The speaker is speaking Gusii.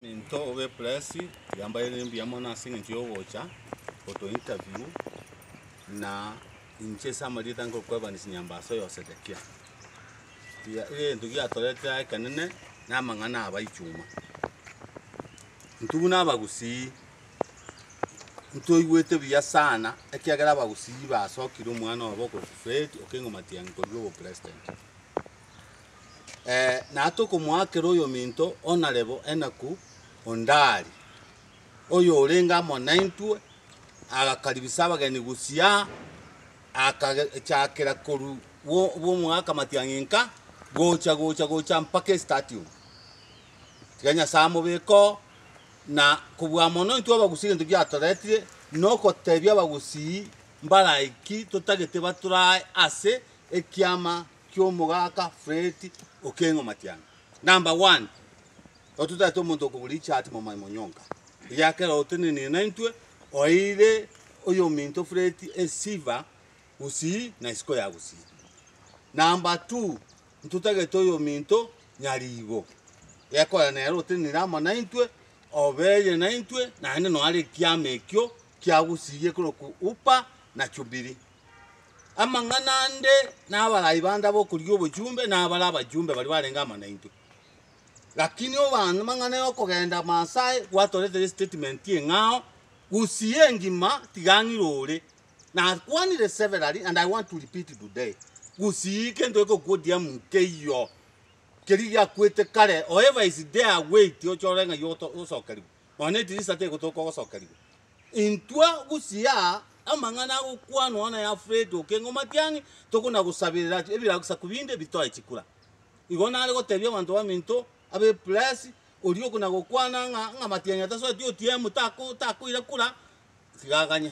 Into obe press yambaire mbuya mono ase eng'encho yogocha goto interview na inche ase amarieta ngokwebanisi nyambaso yo Sedekia. Gia- Egento giatoretire aye ekenene na amang'ana aba ichuma. Intwe buna abagusii ntoigwete buya sana ekiagera abagusii basokire omwana obo okoitwa Fred Okengo Matiang'i korwa obopresident. na tokomoakera oyominto o narebo enaku ondaari, oyorenge amo naintwe, agakaribisa abageni gusii aa, akachakera korwa bw'omogaka amatiang'inka gocha gocha gocha mpaka estatium. Tiga Nyasae amobeke oo, na kobua mono intwe abagusii egento giatoretire, nogotebia abagusii mbaraiki totagete baturae ase ekiama. ki'omogaka Freti o Keng'u Matiang'a. Number one, ototagete omonto okogora echati momoe monyonka, eyakera otenenire naintwe, oeire oyominto Freti esiva gusii na isiko ya gusii. Number two, ntotagete oyominto nyariibo, ekorera nere otenenire amo naintwe, obeire naintwe, naende noare ekiama ekio kia gusii ekorokwa Upa na Chubiri. Amang'ana ande nabarai bande ab'okorigia obochumbe nabare abachumbe baria barenge amo naintwe. Lakini obana amang'ana yokogenda amo ase aye gwatoretera estatement eng'ao gusii engima tiga ang'e rore nakwanire severally and i want to repeat today gusii kento gekokwa odiam nkeiyo keria giakwete kare however is there a way ti ochore ng'ai oto osokerigwe nonye etirisa tegotoka ogosokerigwa. Intwe gusii aa amang'ana agokwanwa nayafureti okengo matiang'i, tokonagosaberera ebirasaku binde bitoe chikura. Igo nare gotebia abanto baminto ab'Epuresi, oria okonagokwana ng'a ng'a matiang'i atasoreti otiemu takoira kura, tiga aganye.